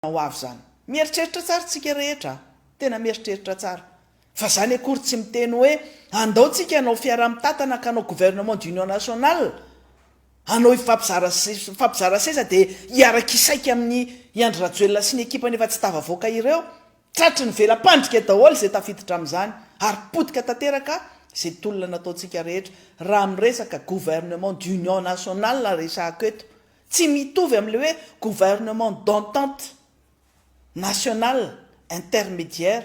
tena ho avy zany. Mieritreritra tsara tsika rehetra a! Tena mieritreritra tsara. Fa zany akory tsy miteny hoe andao tsika hanao fiaraha mitatana ka hanao gouvernement d'union nationale, hanao hifampizara hifampizara seza dia hiaraka hisaika amin i Andry Rajoelina sy ny ekipany efa tsy tavavoaka ireo. Tratry ny vela-pandrika daholo izay tafiditra amin'izany ary potika tanteraka izay tolona nataontsika rehetra raha miresaka gouvernement d'union nationale resahako eto. Tsy mitovy amin'ilay hoe gouvernement d'entente nationale intermédiaire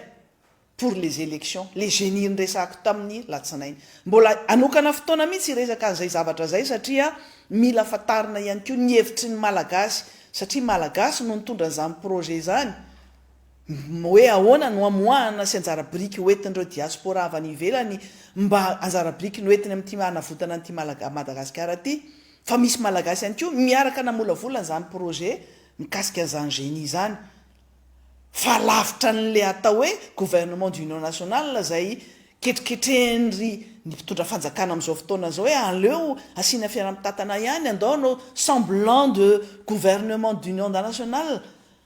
pour les élections, ilay Geni niresahako tamin'ny latsinainy. Mbola hanokana fotoana mihitsy hiresaka an'izay zavatra izay satria mila fantarina ihany koa ny hevitry ny Malagasy satria Malagasy no nitondra an'izany projet izany hoe ahoana no hamoahana sy anjara biriky hoentin'ireo diaspora avy any ivelany mba anjara biriky noentiny amin'ity hanavotana an'ity Madagasikara ity Fa misy Malagasy ihany koa miaraka namolavola an'izany projet mikasika an'izany Geni izany. Fa lavitra an'ilay atao hoe gouvernement d'union nationale izay ketriketrehin-dry ny mpitondra fanjakana amin'izao fotoana izao hoe aleo asiana fiaraha-mitatana ihany, andao hanao semblant de gouvernement d'union nationale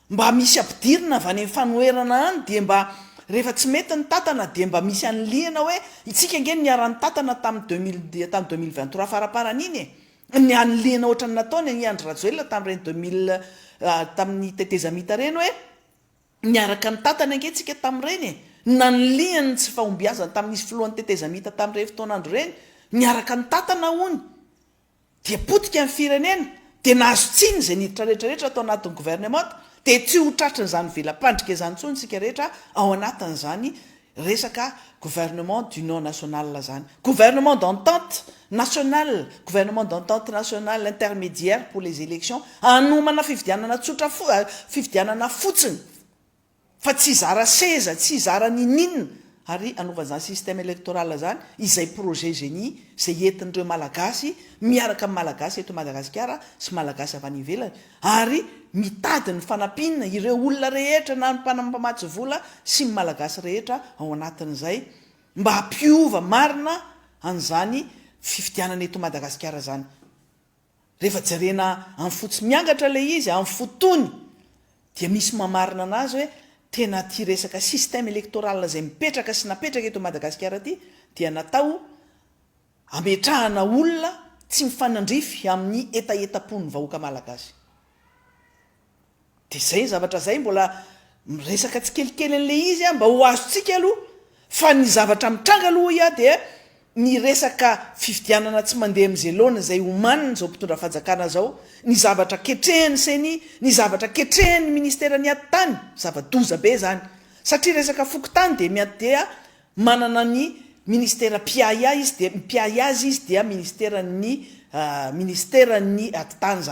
Mba misy ampidirina avy any fanoherana any dia mba rehefa tsy mety ny tatana dia mba misy anilihina hoe itsika ange no niara-nitatana tamin'ny deux mille dia tany deux mille vingt trois faraparany iny e! ny anilihina ohatran'ny nataony an i Andry Rajoelina tamin'ireny deux mille tamin'ny tetezamita ireny hoe niaraka nitatana ange itsika tamin'ireny e! nanilihiny ny tsy fahombiazany tamin'izy filohan'ny tetezamita tamin'ireny fotoan'andro ireny niaraka nitatana hono dia potika ny firenena dia nahazo tsiny izay niditra rehetra rehetra tao anatin'ny gouvernemanta dia tsy ho tratry in'izany vela-pandrika izany intsony isika rehetra ao anatin'izany resaka gouvernement d'union nationale izany. Gouvernement d'entente nationale, gouvernement d'entente nationale intermédiaire pour les élections, hanomana fifidianana tsotra fo, fifidianana fotsiny. fa tsy hizara seza, tsy hizara ninininona ary hanaovana izany système électoral izany izay projet génie izay entin'ireo Malagasy miaraka amin'ny Malagasy eto Madagasikara sy Malagasy avy any ivelany ary mitady ny fanampiana ireo olona rehetra na ny mpanam mpamatsy vola sy ny Malagasy rehetra ao anatin'izay mba hampiova marina an'izany fifidianana eto Madagasikara izany. Rehefa jerena amin'ny fo tsy miangatra ilay izy amin'ny fo tony dia misy mamarina anazy hoe tena ity resaka système électoral izay mipetraka sy napetraka eto Madagasikara ity dia natao hametrahana olona tsy mifanandrify amin'ny hetahetam-pon'ny vahoaka malagasy. Dia izay ny zavatra izay mbola miresaka tsikelikely an'ilay izy aho mba ho azontsika aloha fa ny zavatra mitranga aloha hoy aho dia ny resaka fifidianana tsy mandeha amin'izay laoniny izay omaniny izao mpitondra fanjakana izao, ny zavatra ketrehan'ny ceni, ny zavatra ketrehan'ny ministeran'ny atitany, zava-doza be izany satria resaka fokontany dia miha dia manana ny ministera mpiahy ahy izy dia mpiahy azy izy dia ministeran'ny ministeran'ny atitany izany.